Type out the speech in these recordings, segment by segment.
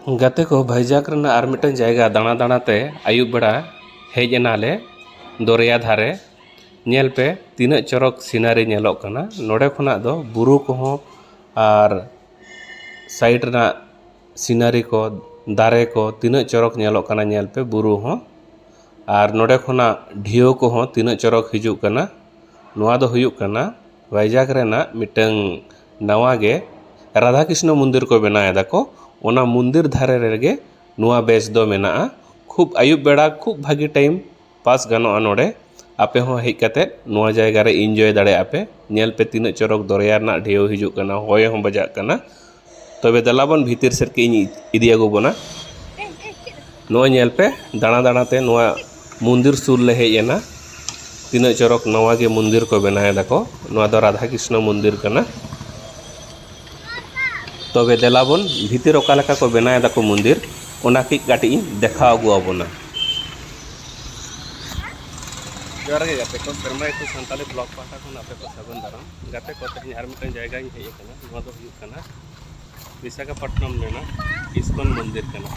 ᱜᱟᱛᱮ ᱠᱚ ᱵᱷᱟᱭᱡᱟᱜᱽ ᱨᱮᱱᱟᱜ ᱟᱨ ᱢᱤᱫᱴᱟᱝ ᱡᱟᱭᱜᱟ ᱫᱟᱬᱟ ᱫᱟᱬᱟ ᱛᱮ ᱟᱹᱭᱩᱵ ᱵᱮᱲᱟ ᱦᱮᱡ ᱮᱱᱟᱞᱮ ᱫᱚᱨᱭᱟ ᱫᱷᱟᱨᱮ ᱧᱮᱞ ᱯᱮ ᱛᱤᱱᱟᱹᱜ ᱪᱚᱨᱚᱠ ᱥᱤᱱᱟᱨᱤ ᱧᱮᱞᱚᱜ ᱠᱟᱱᱟ ᱱᱚᱰᱮ ᱠᱷᱚᱱᱟᱜ ᱫᱚ ᱵᱩᱨᱩ ᱠᱚᱦᱚᱸ ᱟᱨ ᱥᱟᱭᱤᱰ ᱨᱮᱱᱟᱜ ᱥᱤᱱᱟᱨᱤ ᱠᱚ ᱫᱟᱨᱮ ᱠᱚ ᱛᱤᱱᱟᱹᱜ ᱪᱚᱨᱚᱠ ᱧᱮᱞᱚᱜ ᱠᱟᱱᱟ ᱧᱮᱞ ᱯᱮ ᱵᱩᱨᱩ ᱦᱚᱸ ᱟᱨ ᱱᱚᱰᱮ ᱠᱷᱚᱱᱟᱜ ᱰᱷᱮᱣ ᱠᱚᱦᱚᱸ ᱛᱤᱱᱟᱹᱜ ᱪᱚᱨᱚᱠ ᱦᱤᱡᱩᱜ ᱠᱟᱱᱟ ᱱᱚᱣᱟ ᱫᱚ ᱦᱩᱭᱩᱜ ᱠᱟᱱᱟ ᱵᱷᱟᱭᱡᱟᱜᱽ ᱨᱮᱱᱟᱜ ᱢᱤᱫᱴᱟᱹᱝ ᱱᱟᱣᱟ ᱜᱮ ᱨᱟᱫᱷᱟ ᱠᱨᱤᱥᱱᱚ ᱢᱚᱱᱫᱤᱨ ᱠᱚ ᱵᱮᱱᱟᱣ ᱮᱫᱟ ᱠᱚ ᱚᱱᱟ ᱢᱚᱱᱫᱤᱨ ᱫᱷᱟᱨᱮ ᱨᱮᱜᱮ ᱱᱚᱣᱟ ᱵᱮᱪ ᱫᱚ ᱢᱮᱱᱟᱜᱼᱟ ᱠᱷᱩᱵ ᱟᱹᱭᱩᱵ ᱵᱮᱲᱟ ᱠᱷᱩᱵ ᱵᱷᱟᱹᱜᱤ ᱴᱟᱭᱤᱢ ᱯᱟᱥ ᱜᱟᱱᱚᱜᱼᱟ ᱱᱚᱰᱮ ᱟᱯᱮ ᱦᱚᱸ ᱦᱮᱡ ᱠᱟᱛᱮ ᱱᱚᱣᱟ ᱡᱟᱭᱜᱟ ᱨᱮ ᱤᱱᱡᱚᱭ ᱫᱟᱲᱮᱭᱟᱜᱼᱟ ᱯᱮ ᱧᱮᱞ ᱯᱮ ᱛᱤᱱᱟᱹᱜ ᱪᱚᱨᱚᱠ ᱫᱚᱨᱭᱟ ᱨᱮᱱᱟᱜ ᱰᱷᱮᱣ ᱦᱤᱡᱩᱜ ᱠᱟᱱᱟ ᱦᱚᱭ ᱦᱚᱸ ᱵᱟᱡᱟᱜ ᱠᱟᱱᱟ ᱛᱚᱵᱮ ᱫᱮᱞᱟ ᱵᱚᱱ ᱵᱷᱤᱛᱤᱨ ᱥᱮᱫ ᱠᱟᱹᱡ ᱤᱧ ᱤᱫᱤ ᱟᱹᱜᱩ ᱵᱚᱱᱟ ᱱᱚᱜᱼᱚᱸᱭ ᱧᱮᱞ ᱯᱮ ᱫᱟᱬᱟ ᱫᱟᱬᱟ ᱛᱮ ᱱᱚᱣᱟ ᱢᱚᱱᱫᱤᱨ ᱥᱩᱨ ᱞᱮ ᱦᱮᱡ ᱮᱱᱟ ᱛᱤᱱᱟᱹᱜ ᱪᱚᱨᱚᱠ ᱱᱟᱣᱟ ᱜᱮ ᱢᱚᱱᱫᱤᱨ ᱠᱚ ᱵᱮᱱᱟᱣ ᱫᱟᱠᱚ ᱱᱚᱣᱟ ᱫᱚ ᱨᱟᱫᱷᱟ ᱠᱨᱤᱥᱱᱚ ᱢᱚᱱᱫᱤᱨ ᱠᱟᱱᱟ ᱛᱚᱵᱮ ᱫᱮᱞᱟ ᱵᱚᱱ ᱵᱷᱤᱛᱤᱨ ᱚᱠᱟ ᱞᱮᱠᱟ ᱠᱚ ᱵᱮᱱᱟᱣ ᱫᱟᱠᱚ ᱢᱚᱱᱫᱤᱨ ᱚᱱᱟ ᱠᱟᱹᱡ ᱠᱟᱹᱴᱤᱡ ᱤᱧ ᱫᱮᱠᱷᱟᱣ ᱟᱹᱜᱩ ᱟᱵᱚᱱᱟ ᱡᱚᱦᱟᱨ ᱜᱮ ᱜᱟᱛᱮ ᱠᱚ ᱥᱮᱨᱢᱟ ᱤᱛᱩᱱ ᱥᱟᱱᱛᱟᱲᱤ ᱵᱞᱚᱜᱽ ᱯᱟᱦᱴᱟ ᱠᱷᱚᱱ ᱟᱯᱮ ᱠᱚ ᱥᱟᱹᱜᱩᱱ ᱫᱟᱨᱟᱢ ᱜᱟᱛᱮ ᱠᱚ ᱛᱮᱦᱮᱧ ᱟᱨ ᱢᱤᱫᱴᱟᱝ ᱡᱟᱭᱜᱟᱧ ᱦᱮᱡ ᱟᱠᱟᱱᱟ ᱠᱟᱱᱟ ᱱᱚᱣᱟ ᱫᱚ ᱦᱩᱭᱩᱜ ᱠᱟᱱᱟ ᱵᱤᱥᱟᱠᱷᱟᱯᱟᱴᱱᱟᱢ ᱨᱮᱱᱟᱜ ᱤᱥᱠᱚᱱ ᱢᱚᱱᱫᱤᱨ ᱠᱟᱱᱟ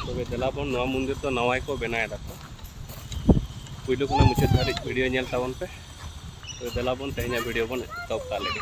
ᱛᱚᱵᱮ ᱫᱮᱞᱟ ᱵᱚᱱ ᱱᱚᱣᱟ ᱢᱚᱱᱫᱤᱨ ᱫᱚ ᱱᱟᱣᱟ ᱜᱮᱠᱚ ᱵᱮᱱᱟᱣ ᱮᱫᱟ ᱠᱚ ᱯᱩᱭᱞᱩ ᱠᱷᱚᱱᱟᱜ ᱢᱩᱪᱟᱹᱫ ᱫᱷᱟᱹᱨᱤᱡ ᱵᱷᱤᱰᱤᱭᱳ ᱧᱮᱞ ᱛᱟᱵᱚᱱ ᱯᱮ ᱛᱚᱵᱮ ᱫᱮᱞᱟ ᱵᱚᱱ ᱛᱮᱦᱮᱧᱟᱜ ᱵᱷᱤᱰᱤᱭᱳ ᱵᱚᱱ ᱮᱛᱚᱦᱚᱵ ᱠᱟᱜ ᱞᱮᱜᱮ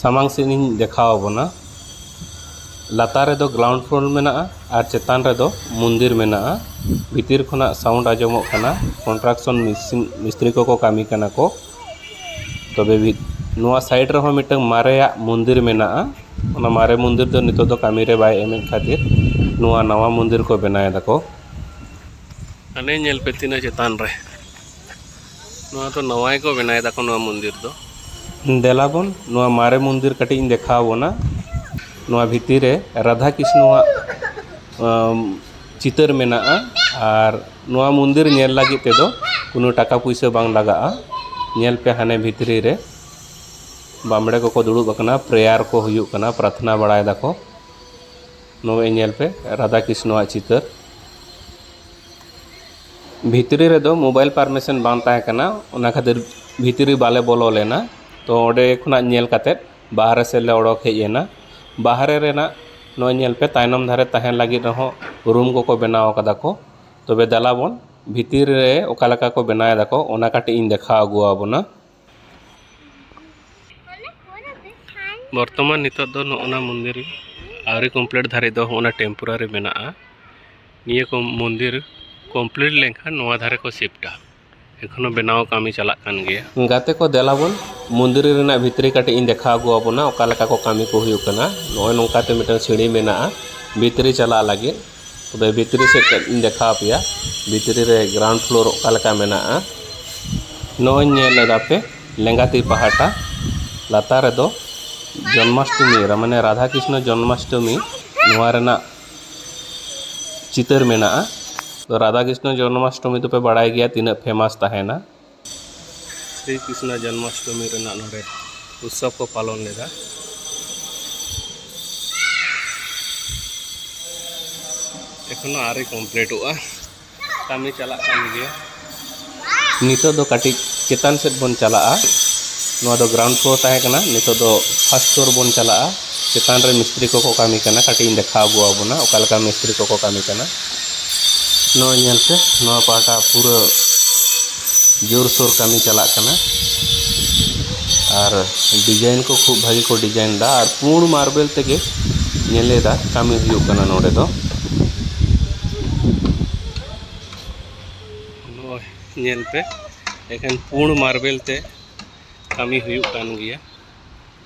ᱥᱟᱢᱟᱝ ᱥᱮᱫ ᱤᱧ ᱫᱮᱠᱷᱟᱣ ᱟᱵᱚᱱᱟ ᱞᱟᱛᱟᱨ ᱨᱮᱫᱚ ᱜᱨᱟᱣᱩᱱᱰ ᱯᱷᱞᱳᱨ ᱢᱮᱱᱟᱜᱼᱟ ᱟᱨ ᱪᱮᱛᱟᱱ ᱨᱮᱫᱚ ᱢᱚᱱᱫᱤᱨ ᱢᱮᱱᱟᱜᱼᱟ ᱵᱷᱤᱛᱤᱨ ᱠᱷᱚᱱᱟᱜ ᱥᱟᱣᱩᱱᱰ ᱟᱸᱡᱚᱢᱚᱜ ᱠᱟᱱᱟ ᱠᱚᱱᱴᱨᱟᱠᱥᱚᱱ ᱢᱮᱥᱤᱱ ᱢᱤᱥᱛᱨᱤ ᱠᱚᱠᱚ ᱠᱟᱹᱢᱤ ᱠᱟᱱᱟ ᱠᱚ ᱛᱚᱵᱮ ᱢᱤᱫ ᱱᱚᱣᱟ ᱥᱟᱭᱤᱰ ᱨᱮᱦᱚᱸ ᱢᱤᱫᱴᱟᱹᱝ ᱢᱟᱨᱮᱭᱟᱜ ᱢᱚᱱᱫᱤᱨ ᱢᱮᱱᱟᱜᱼᱟ ᱚᱱᱟ ᱢᱟᱨᱮ ᱢᱚᱱᱫᱤᱨ ᱫᱚ ᱱᱤᱛᱳᱜ ᱫᱚ ᱠᱟᱹᱢᱤ ᱨᱮ ᱵᱟᱭ ᱮᱢᱮᱫ ᱠᱷᱟᱹᱛᱤᱨ ᱱᱚᱣᱟ ᱱᱟᱣᱟ ᱢᱚᱱᱫᱤᱨ ᱠᱚ ᱵᱮᱱᱟᱣᱮᱫᱟ ᱠᱚ ᱦᱟᱱᱮ ᱧᱮᱞ ᱯᱮ ᱛᱤᱱᱟᱹᱜ ᱪᱮᱛᱟᱱ ᱨᱮ ᱱᱚᱣᱟ ᱫᱚ ᱱᱟᱣᱟ ᱜᱮᱠᱚ ᱵᱮᱱᱟᱣ ᱮᱫᱟ ᱠᱚ ᱱᱚᱣᱟ ᱢᱚᱱᱫᱤᱨ ᱫᱚ ᱫᱮᱞᱟ ᱵᱚᱱ ᱱᱚᱣᱟ ᱢᱟᱨᱮ ᱢᱚᱱᱫᱤᱨ ᱠᱟᱹᱴᱤᱡ ᱤᱧ ᱫᱮᱠᱷᱟᱣ ᱵᱚᱱᱟ ᱱᱚᱣᱟ ᱵᱷᱤᱛᱤᱨ ᱨᱮ ᱨᱟᱫᱷᱟ ᱠᱨᱤᱥᱱᱚ ᱟᱜ ᱪᱤᱛᱟᱹᱨ ᱢᱮᱱᱟᱜᱼᱟ ᱟᱨ ᱱᱚᱣᱟ ᱢᱚᱱᱫᱤᱨ ᱧᱮᱞ ᱞᱟᱹᱜᱤᱫ ᱛᱮᱫᱚ ᱠᱳᱱᱳ ᱴᱟᱠᱟ ᱯᱩᱭᱥᱟᱹ ᱵᱟᱝ ᱞᱟᱜᱟᱜᱼᱟ ᱧᱮᱞ ᱯᱮ ᱦᱟᱱᱮ ᱵᱷᱤᱛᱨᱤ ᱨᱮ ᱵᱟᱢᱲᱮ ᱠᱚᱠᱚ ᱫᱩᱲᱩᱵ ᱟᱠᱟᱱᱟ ᱯᱨᱮᱭᱟᱨ ᱠᱚ ᱦᱩᱭᱩᱜ ᱠᱟᱱᱟ ᱯᱨᱟᱨᱛᱷᱱᱟ ᱵᱟᱲᱟᱭ ᱫᱟᱠᱚ ᱱᱚᱜᱼᱚᱭ ᱧᱮᱞ ᱯᱮ ᱨᱟᱫᱷᱟ ᱠᱨᱤᱥᱱᱚ ᱟᱜ ᱪᱤᱛᱟᱹᱨ ᱵᱷᱤᱛᱨᱤ ᱨᱮᱫᱚ ᱢᱳᱵᱟᱭᱤᱞ ᱯᱟᱨᱢᱤᱥᱮᱱ ᱵᱟᱝ ᱛᱟᱦᱮᱸ ᱠᱟᱱᱟ ᱚᱱᱟ ᱠᱷᱟᱹᱛᱤᱨ ᱵᱷᱤᱛᱨᱤ ᱵᱟᱞᱮ ᱵᱚᱞᱚ ᱞᱮᱱᱟ ᱛᱚ ᱚᱸᱰᱮ ᱠᱷᱚᱱᱟᱜ ᱧᱮᱞ ᱠᱟᱛᱮᱫ ᱵᱟᱦᱨᱮ ᱥᱮᱫ ᱞᱮ ᱚᱰᱳᱠ ᱦᱮᱡ ᱮᱱᱟ ᱵᱟᱦᱨᱮ ᱨᱮᱱᱟᱜ ᱱᱚᱜᱼᱚᱸᱭ ᱧᱮᱞ ᱯᱮ ᱛᱟᱭᱱᱚᱢ ᱫᱷᱟᱨᱮ ᱛᱟᱦᱮᱱ ᱞᱟᱹᱜᱤᱫ ᱨᱮᱦᱚᱸ ᱨᱩᱢ ᱠᱚᱠᱚ ᱵᱮᱱᱟᱣ ᱠᱟᱫᱟ ᱠᱚ ᱛᱚᱵᱮ ᱫᱮᱞᱟ ᱵᱚᱱ ᱵᱷᱤᱛᱤᱨ ᱨᱮ ᱚᱠᱟ ᱞᱮᱠᱟ ᱠᱚ ᱵᱮᱱᱟᱣ ᱫᱟᱠᱚ ᱚᱱᱟ ᱠᱟᱹᱴᱤᱡ ᱤᱧ ᱫᱮᱠᱷᱟᱣ ᱟᱹᱜᱩ ᱟᱵᱚᱱᱟ ᱵᱚᱨᱛᱚᱢᱟᱱ ᱱᱤᱛᱚᱜ ᱫᱚ ᱱᱚᱜᱼᱚ ᱱᱟ ᱢᱚᱱᱫᱤᱨ ᱟᱹᱣᱨᱤ ᱠᱚᱢᱯᱞᱤᱴ ᱫᱷᱟᱹᱨᱤᱡ ᱫᱚ ᱦᱚᱸᱜᱼᱚ ᱱᱟ ᱴᱮᱢᱯᱳᱨᱟᱨᱤ ᱢᱮᱱᱟᱜᱼᱟ ᱱᱤᱭᱟᱹ ᱠᱚ ᱢᱚᱱᱫᱤᱨ ᱠᱚᱢᱯᱞᱤᱴ ᱞᱮᱱᱠᱷᱟᱱ ᱱᱚᱣᱟ ᱫᱷᱟᱨᱮ ᱠᱚ ᱥᱤᱯᱴᱟ ᱮᱠᱷᱚᱱᱚ ᱵᱮᱱᱟᱣ ᱠᱟᱹᱢᱤ ᱪᱟᱞᱟᱜ ᱠᱟᱱ ᱜᱮᱭᱟ ᱜᱟᱛᱮ ᱠᱚ ᱫᱮᱞᱟ ᱵᱚᱱ ᱢᱚᱱᱫᱤᱨ ᱨᱮᱱᱟᱜ ᱵᱷᱤᱛᱨᱤ ᱠᱟᱹᱴᱤᱡ ᱤᱧ ᱫᱮᱠᱷᱟᱣ ᱟᱹᱜᱩ ᱟᱵᱚᱱᱟ ᱚᱠᱟ ᱞᱮᱠᱟ ᱠᱚ ᱠᱟᱹᱢᱤ ᱠᱚ ᱦᱩᱭᱩᱜ ᱠᱟᱱᱟ ᱱᱚᱜᱼᱚᱭ ᱱᱚᱝᱠᱟ ᱛᱮ ᱢᱤᱫᱴᱟᱝ ᱥᱤᱲᱤ ᱢᱮᱱᱟᱜᱼᱟ ᱵᱷᱤᱛᱨᱤ ᱪᱟᱞᱟᱜ ᱞᱟᱹᱜᱤᱫ ᱛᱚᱵᱮ ᱵᱷᱤᱛᱨᱤ ᱥᱮᱫ ᱠᱟᱹᱡ ᱤᱧ ᱫᱮᱠᱷᱟᱣ ᱯᱮᱭᱟ ᱵᱷᱤᱛᱨᱤ ᱨᱮ ᱜᱨᱟᱣᱩᱱᱰ ᱯᱷᱞᱳᱨ ᱚᱠᱟ ᱞᱮᱠᱟ ᱢᱮᱱᱟᱜᱼᱟ ᱱᱚᱜᱼᱚᱭ ᱧᱮᱞ ᱮᱫᱟ ᱯᱮ ᱞᱮᱸᱜᱟ ᱛᱤ ᱯᱟᱦᱴᱟ ᱞᱟᱛᱟᱨ ᱨᱮᱫᱚ ᱡᱚᱱᱢᱟᱥᱴᱚᱢᱤ ᱢᱟᱱᱮ ᱨᱟᱫᱷᱟ ᱠᱨᱤᱥᱱᱚ ᱡᱚᱱᱢᱟᱥᱴᱚᱢᱤ ᱱᱚᱣᱟ ᱨᱮᱱᱟᱜ ᱪᱤᱛᱟᱹᱨ ᱢᱮᱱᱟᱜᱼᱟ ᱨᱟᱫᱷᱟ ᱠᱨᱤᱥᱱᱚ ᱡᱚᱱᱢᱟᱥᱴᱚᱢᱤ ᱫᱚᱯᱮ ᱵᱟᱲᱟᱭ ᱜᱮᱭᱟ ᱛᱤᱱᱟᱹᱜ ᱯᱷᱮᱢᱟᱥ ᱛᱟᱦᱮᱱᱟ ᱥᱨᱤ ᱠᱨᱤᱥᱱᱟ ᱡᱚᱱᱢᱟᱥᱴᱚᱢᱤ ᱨᱮᱱᱟᱜ ᱱᱚᱰᱮ ᱩᱛᱥᱚᱵ ᱠᱚ ᱯᱟᱞᱚᱱ ᱞᱮᱫᱟ ᱮᱠᱷᱚᱱᱚ ᱟᱹᱣᱨᱤ ᱠᱚᱢᱯᱞᱤᱴᱚᱜᱼᱟ ᱠᱟᱹᱢᱤ ᱪᱟᱞᱟᱜ ᱠᱟᱱ ᱜᱮᱭᱟ ᱱᱤᱛᱚᱜ ᱫᱚ ᱠᱟᱹᱴᱤᱡ ᱪᱮᱛᱟᱱ ᱥᱮᱫ ᱵᱚᱱ ᱪᱟᱞᱟᱜᱼᱟ ᱱᱚᱣᱟ ᱫᱚ ᱜᱨᱟᱣᱩᱱᱰ ᱯᱷᱞᱳᱨ ᱛᱟᱦᱮᱸ ᱠᱟᱱᱟ ᱱᱤᱛᱚᱜ ᱫᱚ ᱯᱷᱟᱥᱴ ᱯᱷᱞᱳᱨ ᱵᱚᱱ ᱪᱟᱞᱟᱜᱼᱟ ᱪᱮᱛᱟᱱ ᱨᱮ ᱢᱤᱥᱛᱨᱤ ᱠᱚᱠᱚ ᱠᱟᱹᱢᱤ ᱠᱟᱱᱟ ᱠᱟᱹᱴᱤᱡ ᱤᱧ ᱫᱮᱠᱷᱟᱣ ᱟᱹᱜᱩ ᱟᱵᱚᱱᱟ ᱚᱠᱟ ᱞᱮᱠᱟ ᱢᱤᱥᱛᱨᱤ ᱠᱚᱠᱚ ᱠᱟᱹᱢᱤ ᱠᱟᱱᱟ ᱱᱚᱜᱼᱚᱭ ᱧᱮᱞ ᱯᱮ ᱱᱚᱣᱟ ᱯᱟᱦᱴᱟ ᱯᱩᱨᱟᱹ ᱡᱳᱨᱥᱳᱨ ᱠᱟᱹᱢᱤ ᱪᱟᱞᱟᱜ ᱠᱟᱱᱟ ᱟᱨ ᱰᱤᱡᱟᱭᱤᱱ ᱠᱚ ᱠᱷᱩᱵ ᱵᱷᱟᱹᱜᱤ ᱠᱚ ᱰᱤᱡᱟᱭᱤᱱ ᱮᱫᱟ ᱟᱨ ᱯᱩᱬ ᱢᱟᱨᱵᱮᱞ ᱛᱮᱜᱮ ᱧᱮᱞᱮᱫᱟ ᱠᱟᱹᱢᱤ ᱦᱩᱭᱩᱜ ᱠᱟᱱᱟ ᱱᱚᱰᱮ ᱫᱚ ᱱᱚᱜᱼᱚᱭ ᱧᱮᱞ ᱯᱮ ᱮᱠᱷᱮᱱ ᱯᱩᱬ ᱢᱟᱨᱵᱮᱞ ᱛᱮ ᱠᱟᱹᱢᱤ ᱦᱩᱭᱩᱜ ᱠᱟᱱ ᱜᱮᱭᱟ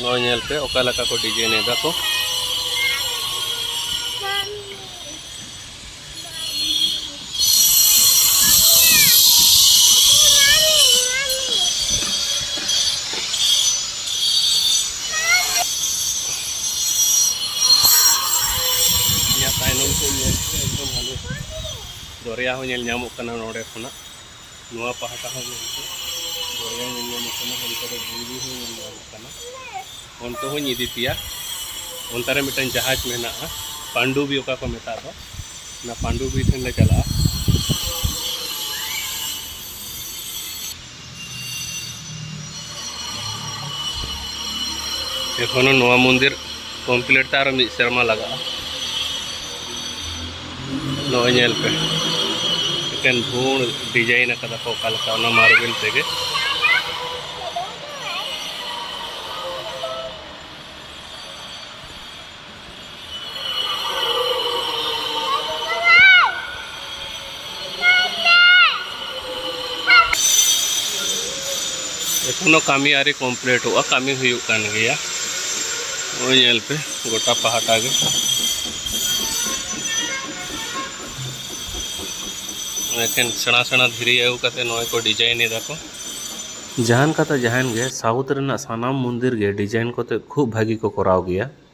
ᱱᱚᱜᱼᱚᱭ ᱧᱮᱞ ᱯᱮ ᱚᱠᱟ ᱞᱮᱠᱟ ᱠᱚ ᱰᱤᱡᱟᱭᱤᱱ ᱮᱫᱟ ᱠᱚ ᱫᱚᱨᱭᱟ ᱦᱚᱸ ᱧᱮᱞ ᱧᱟᱢᱚᱜ ᱠᱟᱱᱟ ᱱᱚᱰᱮ ᱠᱷᱚᱱᱟᱜ ᱱᱚᱣᱟ ᱯᱟᱦᱴᱟ ᱦᱚᱸ ᱜᱚᱢᱠᱮ ᱫᱚᱨᱭᱟ ᱧᱮᱞ ᱧᱟᱢᱚᱜ ᱠᱟᱱᱟ ᱚᱱᱛᱮ ᱨᱮ ᱵᱩᱨᱩ ᱦᱚᱸ ᱧᱮᱞ ᱧᱟᱢᱚᱜ ᱠᱟᱱᱟ ᱚᱱᱛᱮ ᱦᱚᱸᱧ ᱤᱫᱤ ᱯᱮᱭᱟ ᱚᱱᱛᱮ ᱨᱮ ᱢᱤᱫᱴᱟᱝ ᱡᱟᱦᱟᱡᱽ ᱢᱮᱱᱟᱜᱼᱟ ᱯᱟᱱᱰᱩᱵᱤ ᱚᱠᱟ ᱠᱚ ᱢᱮᱛᱟᱜ ᱫᱚ ᱚᱱᱟ ᱯᱟᱱᱰᱩᱵᱤ ᱴᱷᱮᱱ ᱞᱮ ᱪᱟᱞᱟᱜᱼᱟ ᱮᱠᱷᱚᱱᱳ ᱱᱚᱣᱟ ᱢᱚᱱᱫᱤᱨ ᱠᱚᱢᱯᱞᱤᱴ ᱛᱮ ᱟᱨᱚ ᱢᱤᱫ ᱥᱮᱨᱢᱟ ᱞᱟᱜᱟᱜᱼᱟ ᱱᱚᱜᱼᱚᱭ ᱧᱮᱞ ᱯᱮ ᱢᱤᱫᱴᱮᱱ ᱵᱷᱩᱬ ᱰᱤᱡᱟᱭᱤᱱ ᱟᱠᱟᱫᱟ ᱠᱚ ᱚᱠᱟ ᱞᱮᱠᱟ ᱚᱱᱟ ᱢᱟᱨᱵᱮᱞ ᱛᱮᱜᱮ ᱮᱠᱷᱚᱱᱳ ᱠᱟᱹᱢᱤ ᱟᱹᱣᱨᱤ ᱠᱚᱢᱯᱞᱤᱴᱚᱜᱼᱟ ᱠᱟᱹᱢᱤ ᱦᱩᱭᱩᱜ ᱠᱟᱱ ᱜᱮᱭᱟ ᱱᱚᱜᱼᱚᱭ ᱧᱮᱞ ᱯᱮ ᱜᱚᱴᱟ ᱯᱟᱦᱴᱟ ᱜᱮ ᱮᱠᱷᱮᱱ ᱥᱮᱬᱟ ᱥᱮᱬᱟ ᱫᱷᱤᱨᱤ ᱟᱹᱜᱩ ᱠᱟᱛᱮ ᱱᱚᱜᱼᱚᱭ ᱠᱚ ᱰᱤᱡᱟᱭᱤᱱ ᱮᱫᱟ ᱠᱚ ᱡᱟᱦᱟᱱ ᱠᱟᱛᱷᱟ ᱡᱟᱦᱟᱱ ᱜᱮ ᱥᱟᱣᱩᱛᱷ ᱨᱮᱱᱟᱜ ᱥᱟᱱᱟᱢ ᱢᱚᱱᱫᱤᱨ ᱜᱮ ᱰᱤᱡᱟᱭᱤᱱ ᱠᱚᱛᱮ ᱠᱷᱩᱵ ᱵᱷᱟᱹᱜᱤ ᱠᱚ ᱠᱚᱨᱟᱣ ᱜᱮᱭᱟ